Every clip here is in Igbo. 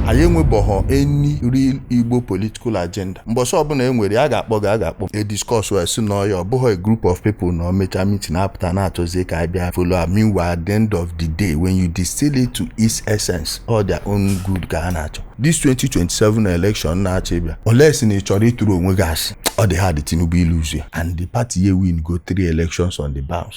anyị enwebọghọ any real igbo political agenda mbọsị ọbụla e nwere a ga-akpọ gị a ga-akpọ e discuss wee sị na ọ ya ọ bụghị a group of people na emecha meeting apụta na-achọzie ka a bịa follow ha meanwhile at the end of the day when you distill it to its essence all their own good ka ha na-achọ this 2027 election na-achọ ịbịa unless na ị chọrọ ịtụrụ onwe gị asị ọ dị hard tinubu ilose ya and the party ya ewingo three elections on the bounce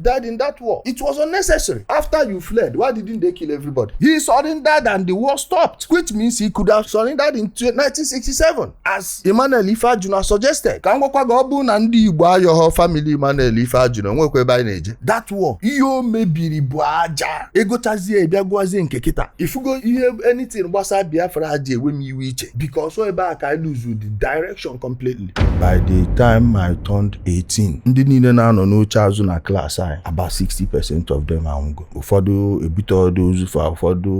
died in that war. It was unnecessary. After you fled, why didn't they kill everybody? He surrendered and the war stopped, which means he could have surrendered in 1967, as Emmanuel Ifeajuna suggested. Ka m gwakwa gị ọ bụrụ na ndị Igbo ayọghọ family Emmanuel Ifeajuna o nwekwa ebe anyị na-eje. That war, ihe o mebiri bụ aja. Egochazie ịbịa gụazie nke kịta. Ifugo ihe anything gbasara Biafra ji ewe m iwe iche because ọ ebe a ka I lose the direct direction completely. By the time I turned 18, ndị niile na-anọ n'oche azụ na class anyị, about 60% of them anwụgo. Ụfọdụ ebuteghọdụ ozu fa, ụfọdụ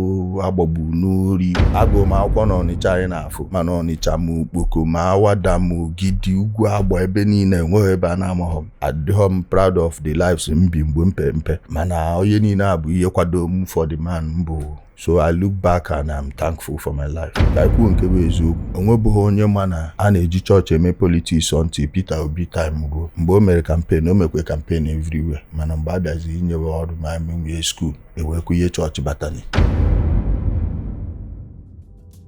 agbagbu n'ori. Agụụ m akwụkwọ n'Ọnịcha anyị na-afụ, mana Ọnịcha ma Okpoko ma Awada ma Ogidi, Ugwu Agba ebe niile enweghọ ebe a na-amaghọ m. Adịghọ m proud of the lives m bi mgbe m pe mpe, mana ọ ihe niile a bụ ihe kwado m for the man m bụ. so i look back and i'm thankful for my life ka anyị kwuo nke bụ eziokwu o nwebughị onye ma na a na-eji chọọchị eme politics until Peter Obi time ruo mgbe o mere campaign o mekwe campaign everywhere mana mgbe a bịaziri inyewe ọrụ ma menwie school ewekwu ihe chọọchị batani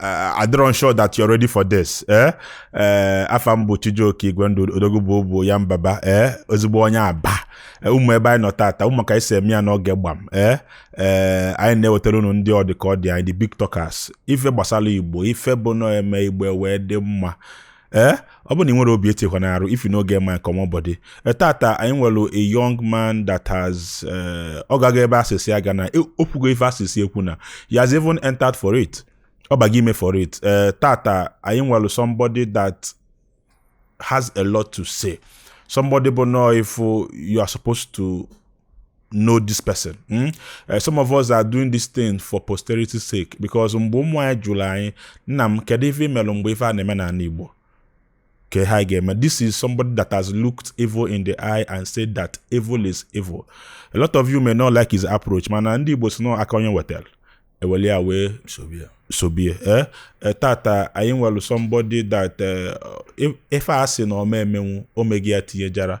uh, adịrọ m sure that you're ready for this eh eh afa m bụ Chijioke Igwendu odogwu bụ obu ya mbaba eh ozugbo onye aba eh, unu ma ebe anyị nọ tata unu ma ka anyị si eme ya n'oge gbam eh eh anyị na-ewetara unu ndị ọ dị ka ọ dị anyị the big talkers ife gbasara igbo ife bụ na e mee igbo ewee dị mma ee eh? ọ bụ na ị nwerọ obi etinyekwana arụ if you no get mind comot body eh, tata anyị nwere a young man that has eh, ọ gago ebe a sị sị ya agana e, o kwugo ife a sị sị ekwuna he has even entered for it ọ bago ime for it ee tata anyị nwere somebody that has a lot to say somebody bụ na if you are supposed to know this person hmm? eh, some of us are doing this thing for posterity's sake because mgbe ụmụ anyị jụrụ anyị nna m kedu ife i melụ mgbe ife a na-eme n'ana Igbo ka ha ga-eme this is somebody that has looked evil in the eye and said that evil is evil a lot of you may not like his approach mana ndị Igbo sị na ọ aka onye wetara e welu ya wee sobe ya eh? eh, tata anyị nwere somebody that ife a sị na ọ ma emenwu o mego ya tinye jara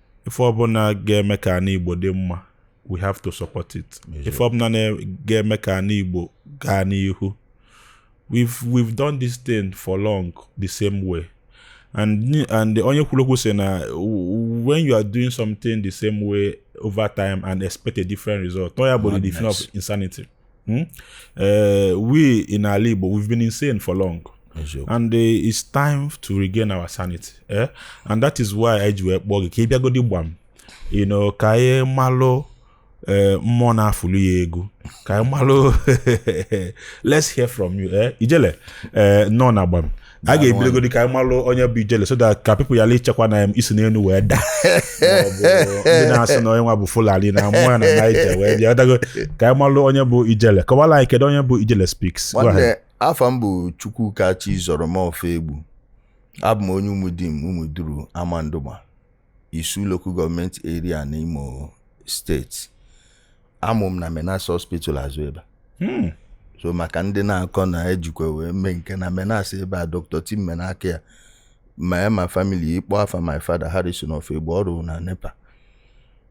ife ọbụla ga-eme ka ana igbo dị mma we have to support it ife ọbụla ga-eme ka ana igbo gaa n'ihu we've we've done this thing for long the same way and and onye kwuru okwu sị na when you are doing something the same way over time and expect a different result na ọ ya bụ the definition of insanity Hmm? Uh, we in Ala Igbo, we've been insane for long. and uh, it's time to regain our sanity eh? and that is why anyị ji wee kpọọ gị ka ị bịagodi gbam you know ka anyị malụ eh, mmụọ na-afụlu ya egwu ka anyị malụ let's hear from you eh? ijele eh, nọ na gbam a ga-ebidogodi ka anyị malụ onye bụ ijele so that ka people yala ichekwa na i si n'elu wee daa ndị na-asị na onye nwa bụ fulani na amụ ya na naija wee bịa dago ka anyị malụ onye bụ ijele kọwala anyị kedu onye bụ ijele speaks nwanne afa m bụ chukwuka chizọrọm ofoegbu abụ m onye umuduru amandugba Isu Local Government Area na Imo Steeti amụ m na Menax Hospital azụ ebe a hmm. so maka ndị na-akọ na ejikwa wee mee nke na Menax ebe a Dr. Tim Menakaya ma ya ma family ị kpọ afa my father Harrison Ofoegbu ọ rụ na NEPA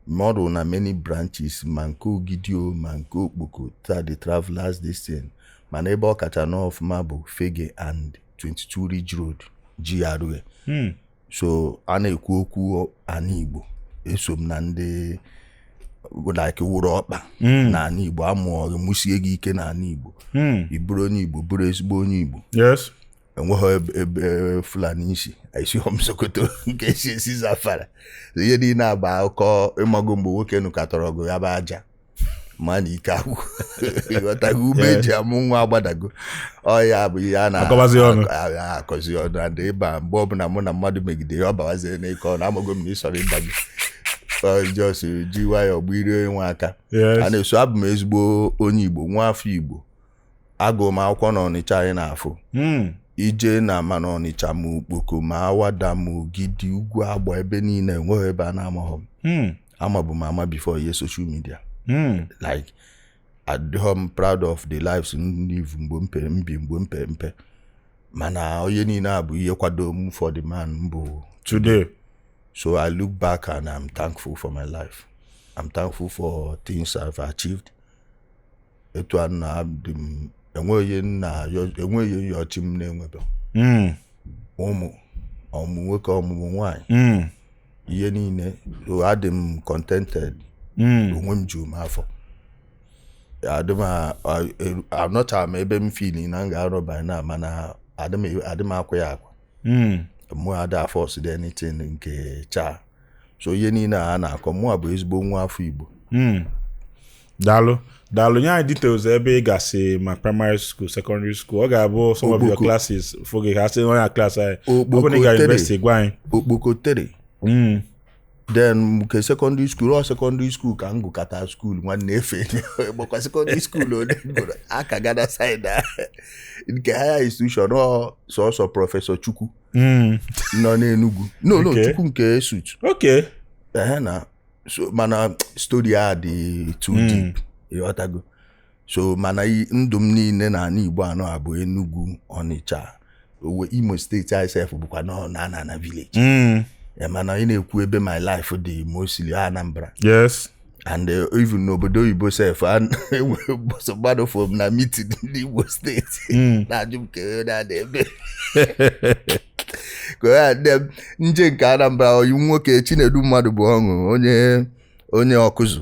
ma ọ rụ na many branches ma nke Ogidi o ma nke Okpoko ta the travelers this thing mana ebe ọ kacha nọ ọfụma bụ Fegge and 22 Ridge Road GRA hmm. so a na-ekwu okwu ana igbo eso m na ndị like wụrụ ọkpa hmm. na ana igbo amụọ gị mụsie gị ike na ana igbo hmm. ị bụrụ onye igbo bụrụ ezigbo onye igbo enweghị ebe e, fulani si esighọ m sokoto nke esi esi zamfara ihe niile a bụ akụkọ ịmago mgbe nwoke nụkatara ọgụ ya bụ aja ma na ike agwụ ịghọtago ume eji amụ nwa agbadago ọ ya bụ ihe a na-akọzi ọnụ akọzi ọnụ adị ịba mgbe ọbụla mụ na mmadụ megide ya ọ bawazie n'ịkọ ọnụ amago m na ịsọrọ ịba gị just ji nwayọọ gbirie nwa aka a na-eso abụ m ezigbo onye igbo nwa afọ igbo agụ m akwụkwọ na ọnịcha anyị na-afụ hmm. ije na ama na ọnịcha ma okpoko ma awada ma ogidi ugwuagba ebe niile enweghị ebe a na-amaghọ m hmm. amabu m ama before ihe social media hmm. like adịghọ m proud of the lives m livego m bi mgbe m pe mpe mana ọ ihe niile a bụ ihe kwado m for the man m bụ today so i look back and i'm thankful for my life i'm thankful for things i've achieved etu a nna m enweghị ihe m yọrọ chi m na-enwebe hmm. ụmụ ọmụmụ nwoke ọmụmụ nwaanyị hmm. ihe niile adị m contented hmm. onwe m ju m afọ anọcha m ebe m feel na m ga-anọ by now mana adị m akwa ya akwa mụ ada a-force dị anything nke chaa so ihe niile a na-akọ mụa bụ ezigbo nwa afọ Igbo hmm. daalụ daalụ nye anyị details ebe ị gasị ma primary school secondary school ọ ga-abụ some of your classes fụ gị ha sị onye class anyị ọ bụ na ị gara university gwa anyị Okpoko three hmm. then nke secondary school ọ secondary school ka m gụkata school nwanne ife gbakwa secondary school ole gụrụ aka gada side nke higher institution ọ sọsọ Prọfesọ Chukwu hmm. nọ n'Enugwu no no Chukwu nke ESUT na mana story a dị too hmm. deep ịghọtago so mana ndụ m niile na ala Igbo ọ na-abụ Enugu Ọnịcha owe Imo steeti sef bụkwa nọ na-ana na village hmm. mana ị na-ekwu ebe my life dị mostly Anambra yes and uh, even n'obodo oyibo sef enwere bọsọ mmadụ fụ m na mitin ndị Imo steeti hmm. na-ajụ m ka onye na-ada ebe ka onye adị m eje nke Anambra oyi nwoke Chinedu mmadụ bụ ọṅụ onye onye Ọkụzụ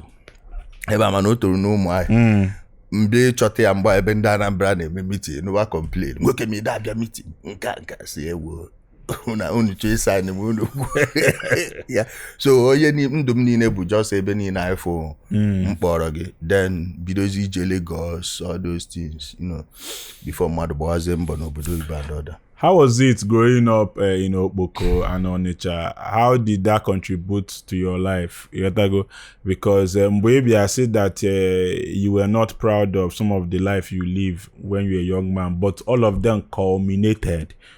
ebe a mana o toro n'Ụmụahịa hmm. mgbe ị chọta ya mgbe ebe ndị Anambra na-eme mitin n'ụwa complain nwoke m ị dị abịa mitin nke nke si ewu na unu chọọ ịsa anyị ma unu ya so onye ndụ m niile bụ just ebe niile afụ hmm. m kpọrọ gị then bidozi ije Lagos all those things you know before mmadụ gbawazie mbọ n'obodo oyibo and all that How was it growing up uh, in Okpoko and Onitsha? How did that contribute to your life? Ịghọtago? Because eh, mgbe ị bịa sị that uh, you were not proud of some of the life you live when you were a young man, but all of them culminated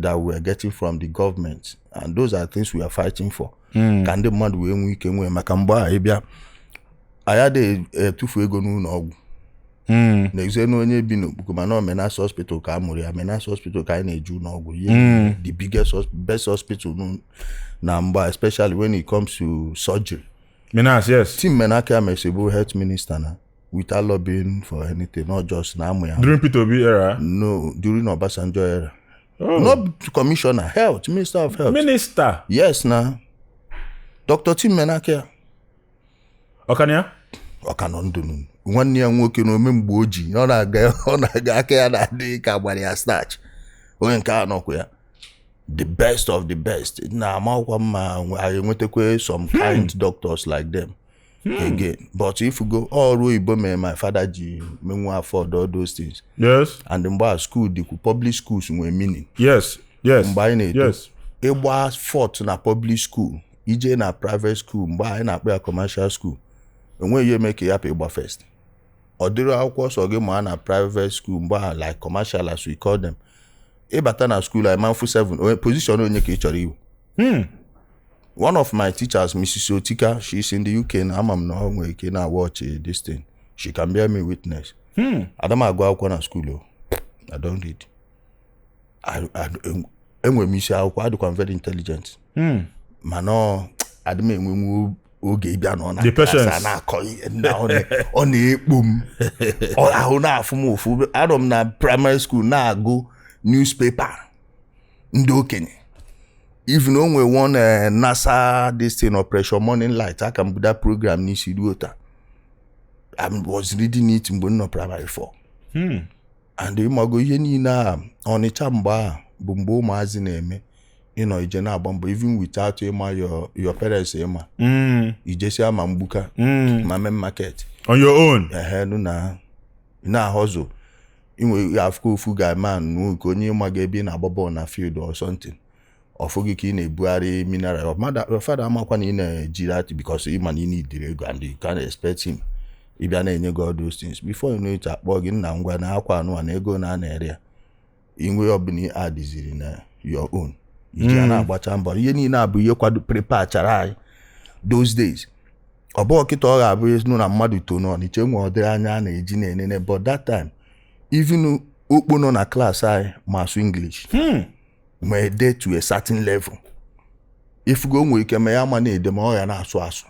that we are getting from the government and those are things we are fighting for hmm. ka ndị mmadụ wee nwee ike nwee maka mgbe a ịbịa anyị adịghị etufu ego n'ụlọ ọgwụ hmm. na-ezie na onye bi n'Okpoko mana Menax hospital ka a mụrụ ya Menax hospital ka anyị na-eje ụlọ ọgwụ ihe hmm. the biggest best hospital na mgbe a especially when it comes to surgery Menax yes Tim Menakaya mesị bụ health minister na without lobbying for anything not just na amụ ya during Peter Obi era no during Obasanjo era oh. not commissioner health minister of health minister yes na Dr. Tim Menakaya ọ ka nọ ya ọ ka nọ ndụ nwanne ya nwoke na ome mgbe oji ọ na-aga aka ya na-adị ka a gbara ya starch onye nke a nọkwa ya the best of the best na-amakwa mma e nwetakwa some hmm. kind doctors like them again but ị fụgo ọrụ oyibo mere my father ji menwu afford all those things yes and mgbe a school dịkwu public schools nwee meaning yes yes mgbe anyị na-eto yes ịgba fourth na public school ije na private school mgbe anyị na-akpọ ya commercial school enweghị ihe eme ka ị hapụ ịgba first ọ dịrị akwụkwọ sọ gị ma na private school mgbe ahụ like commercial as we call them ịbata na school anyị manfu 7 onye position onye ka ị chọrọ iwu Hmm. one of my teachers mrs otika she's in the uk na ama m na ọ nwere ike na-awatch eh, this thing she can bear me witness Hmm. ada m agụ akwụkwọ na skuul o I don't read I- I- en- enwere m isi akwụkwọ adịkwa m very intelligent Hmm. mana ọ- adị m enwenwu oge ịbịa na ọ na The klaasị a patience. na-akọ ihe nna ọ na- ọ na-ekpo m Ọ- ahụ na-afụ m ụfụ anọ m na praịmarị skuul na-agụ newspaper ndị okenye even o nwere one eh, nasa this thing operation morning light aka m bu that program n'isi ruo taa I was reading it mgbe m nọ primary four Hmm. and ịmago ihe niile a ọnịcha mgbe a bụ mgbe ụmụazị na-eme ịnọ ije na-agba mbọ even without ịma your, your parents ịma Mm. i jesia ma Mgbuka Mm. ma Main Market On your own. ehe nụ na na-ahustle inwe afụkọ ofu guy man nu nke onye ịma ga ebe ị na-agba bọọlụ na field or something ọfụ gị ka ị na-ebugharị mineral Your mother- your father amakwa na ị na-eji that because ị ma na ị needịrị ego and you can't expect him ịbịa na-enye gị all those things before you know it akpọ gị nna ngwa na akwa anụ a na ego na a na-ere ya ihe ọbụla ị addịziri na your own iji ya na-agbacha mbọ ihe niile a bụ ihe kwado preparechara anyị those days ọ bụrọ kịta ọ ga-abụzi nụ na mmadụ too n'Ọnịcha enwe ụdịrị anya a na-eji na-enene but that time even okpo nọ na klaasị anyị ma asụ English hmm. ma ede to a certain level ị fụgo nwee ike ma ya ma na-ede ma ọ ya na-asụ asụ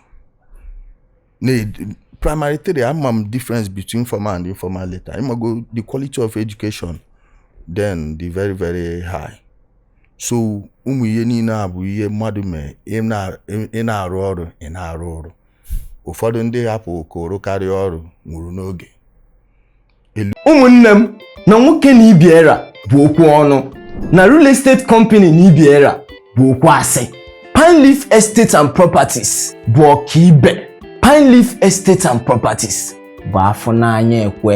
primary three ama m difference between formal and informal letter ịmago the quality of education then dị very very high so ụmụ ihe niile a bụ ihe mmadụ mee ị na-arụ ọrụ ị na-arụ ọrụ ụfọdụ ndị hapụ koro karịa ọrụ nwụrụ n'oge ụmụnne m na nwoke na ibe ya ra bụ okwu ọnụ na real estate company na ibe ya ra bụ okwu asị Pine Leaf Estate and Properties bụ ọkaibe Pine Leaf Estate and Properties bụ afụ n'anya ekwe